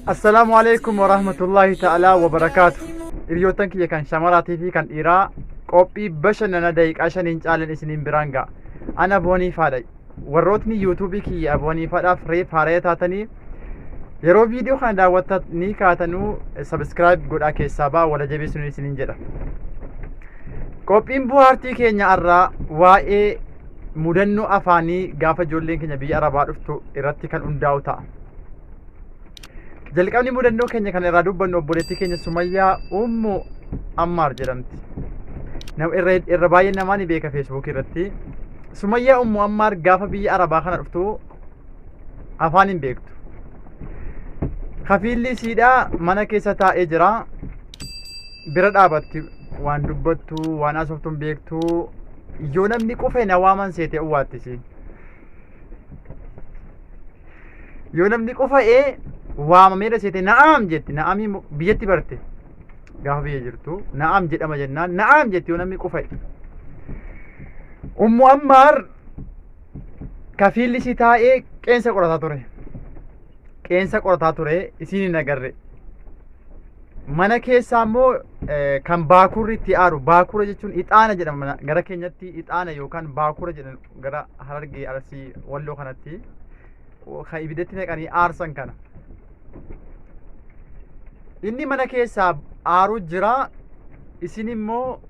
Assalaamu alaikum warahmatullahi ta'ala wabarakaatu. Hiriyoottan kiyya kan shamaraatii fi kan dhiiraa qophii bashannana daqiiqaa shaniin caalan isiniin biraan ga'a. Ana Aboonii Faadha. Warrootni yuutuubii kiyya Aboonii Faadhaaf reef haaraya taatanii yeroo viidiyoo kana daawwattan ni kaatanuu sabiskiraayib godhaa keessaa ba'a wala jabeessuun isiniin jedha. Qophiin buhaartii keenya irraa waa'ee mudannoo afaanii gaafa ijoolleen keenya biyya arabaa dhuftu irratti kan hundaa'u ta'a. Jalqabni mudannoo keenya kan irraa dubbannu obboleettii keenya Sumayyaa Ummu Ammaar jedhamti. Nam- Irra irra baay'ee namaa ni beeka Feesbuukii irratti. Sumayyaa Ummu Ammaar gaafa biyya Arabaa kana dhuftu afaan hin beektu. Kafiilli isiidhaa mana keessa taa'ee jira. Bira dhaabatti waan dubbattu waan haasoftu hin beektu. Yoo namni qufe na waaman seete uwwaattisiin. yoo namni qufa'ee waamameedha seete na'aam jetti na'amii mo- biyyatti barte gaafa biyya jirtu na'aam jedhama jennaan na'aam jetti yoo namni qufa'e ummu ammaar kafiilli isii taa'ee qeensa qorataa ture qeensa qorataa ture isiin hin agarre mana keessaa immoo eh, kan baakurri itti aaru baakura jechuun ixaana jedhama gara keenyatti ixaana yookaan baakura jedhan gara harargee arsii walloo kanatti kan ibiddatti naqanii aarsan kana inni mana keessaa aaruu jira isin immoo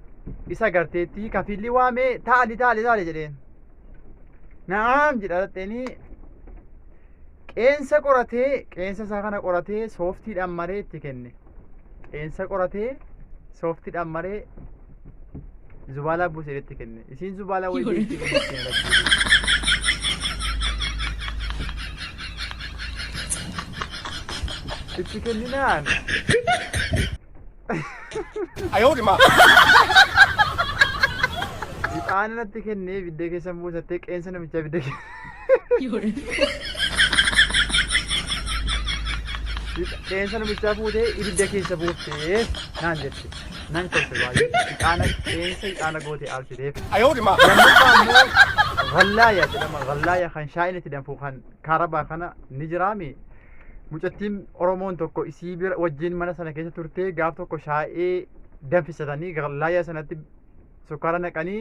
isa garteetti kafiilli waamee taali taali taali jedheen na'aam jedha dhaxxeenii qeensa qoratee qeensa isaa kana qoratee sooftiidhaan maree itti kenne qeensa qoratee sooftiidhaan maree zubaalaa buusee itti kenne. Isiin zubaalaa wayii Yoona. beektii kan ittiin argisiisu. Itti kenninaan. Ixaana natti kennee ibidda keessa buusattee qeensa namichaa ibidda keessa. Qeensa namichaa fuutee ibidda keessa buuftee naan jette. Nan kolfe baay'ee. Ixaana qeensa ixaana gootee aarsiteef. Lammaffaa immoo vallaaya jedhama. Vallaaya kan shaayina itti danfuu kan kaarabaa kana ni jiraami. Mucattiin Oromoon tokko isii bira wajjin mana sana keessa turtee gaaf tokko shaayee danfisatanii vallaaya sanatti sukkaara naqanii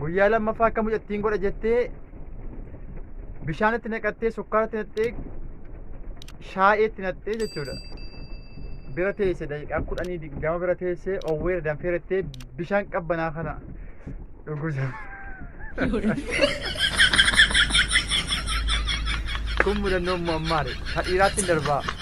guyyaa lammaffaa akka mucattiin godha jettee bishaanitti naqattee sukkaaratti naqxee shaayeetti naqxee jechuudha. Bira teesse daqiiqaa kudhanii digdama bira teessee owweera danfeerattee bishaan qabbanaa kana dhugusa. Kun mudannoo immoo ammaadha. Ka dhiiraatti hin darbaa.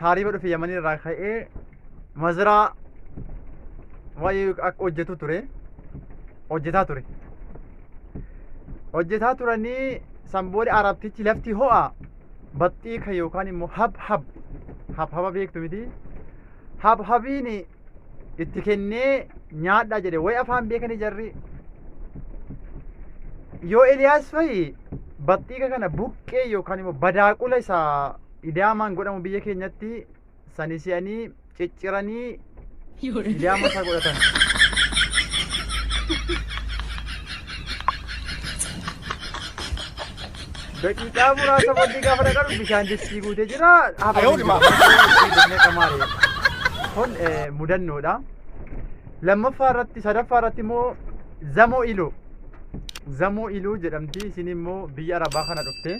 taariiba dhufe yamanii irraa ka'ee maziraa waa'ee akka hojjetu ture hojjetaa ture hojjetaa turanii san booda arabtichi lafti ho'a baxxii kan yookaan immoo hab hab hab haba beektu miti hab habiin itti kennee nyaadhaa jedhe way afaan beekanii jarri yoo Eliyaas fa'i baxxiiqa kana buqqee yookaan immoo badaaqula isaa Idaamaan godhamu biyya keenyatti sani si'anii cicciranii idaama isaa godhatan. Daqiiqaa muraasa booddee gaafa dhaqan bishaan distii guutee jira. Kun mudannoodha. Lammaffaa irratti sadaffaa irratti immoo zamoo iloo. Zamoo iloo jedhamti isin immoo biyya arabaa kana dhufte.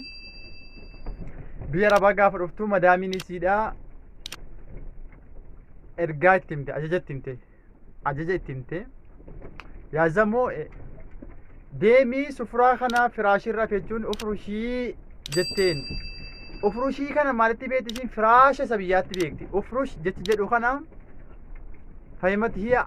biyya arabaa gaafa dhuftu madaamiin isiidhaa ergaa itti himte ajaja itti himte ajaja itti himte yaa zamoo e, deemii sufuraa kana firaashii irra jechuun ufurushii jetteen ufurushii kana maalitti beekti ishiin firaasha isa biyyaatti beekti ufurush jechi jedhu kana fahimati hiya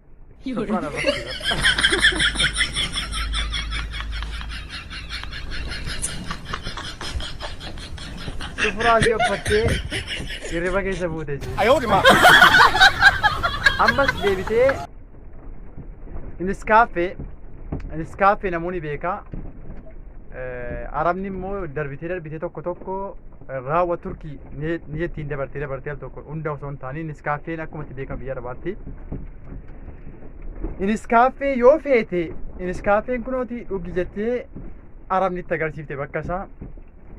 Sufuraa ishee uffattee hirriba keessa buute jechuudha. Ayoodhuma. Ammas deebitee Niskaaffee Niskaaffee namoonni beekaa. Eh, Arabni immoo darbitee darbitee tokko tokko raawwa turkii ni jettiin dabartee dabartee al tokko hunda osoo hin taane niskaaffeen akkuma itti beekamu biyya arabaatti niskaaffee yoo feete niskaaffeen kunooti dhugi jettee arabni itti agarsiifte bakka isaa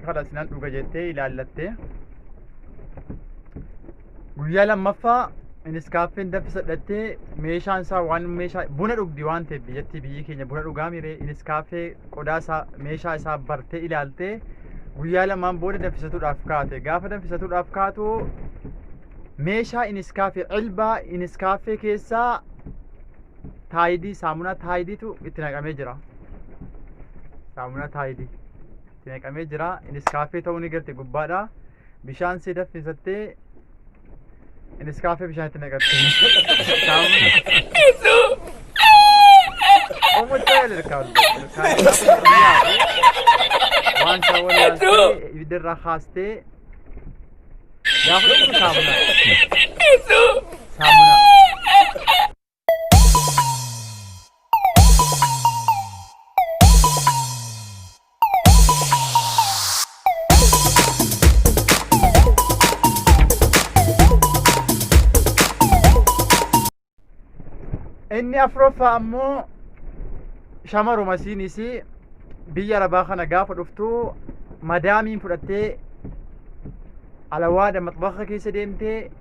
kadhasinan dhuga jettee ilaallattee Guyyaa lammaffaa innis kaaffeen daffi sadhattee meeshaan isaa waan meeshaa buna dhugdi waan ta'eef biyyattii biyyi keenya buna dhugaa miree innis kaaffee qodaa isaa meeshaa isaa bartee ilaaltee guyyaa lamaan booda danfisatuudhaaf kaate gaafa danfisatuudhaaf kaatu meeshaa innis kaaffee cilbaa innis kaaffee keessaa taayidii saamunaa taayidiitu itti naqamee jira saamunaa taayidii itti naqamee jira innis kaaffee ta'uu ni garte gubbaadhaa. Bishaan si daffisattee iniskaafee bishaan itti naqatte. Omuttee ilkaan waan isaa wallaaltee ibidda irraa kaastee gaafa dhugdu saamuna. Saamuna. Inni afuraffaa ammoo shamaruma isiinis biyya arabaa kana gaafa dhuftu madaamiin fudhattee alawaadha maxbaxa keessa deemtee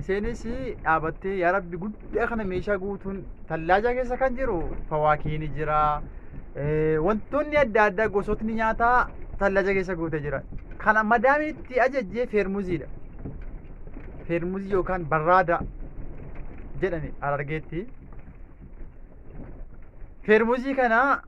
Iseenis dhaabattee yaa rabbi guddaa kana meeshaa guutuun tallaajaa keessa kan jiru fawaakii ni jira. Wantoonni adda addaa gosootni nyaataa tallaajaa keessa guutee jira. Kana madaamii itti ajajjee feermuziidha. Feermuzii yookaan barraada jedhani harargeetti. Feermuzii kana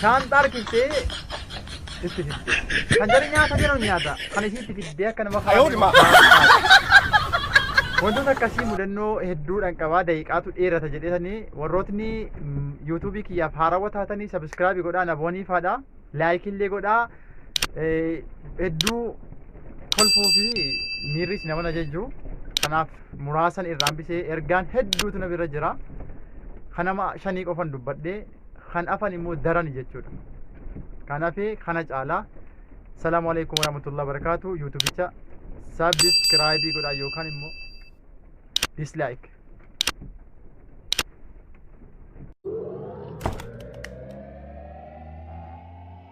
Shaanxaa harkiftee itti fidde. Kan jedhu nyaata jedhu nyaata. Kan ishii itti fiddee akka nama Ayoo dhimaa. Wantoota akkasii mudannoo hedduudhaan qabaa daqiiqaatu dheerata jedhetanii warrootni yuutuubii kiyyaaf haarawwa taatanii sabiskiraabii godhaa nabooniifaadha laayikillee godhaa Hedduu kolfuu fi miirris nama na jejju. Kanaaf muraasan irraan bisee ergaan hedduutu na bira jira. Kan nama shanii qofan dubbadhee kan afan immoo darani jechuudha. Kanaaf kana caalaa salaamu alaikum warahmatullahi wabarakatuh yuutubicha sabiskiraayibii godhaa yookaan immoo dislaayik.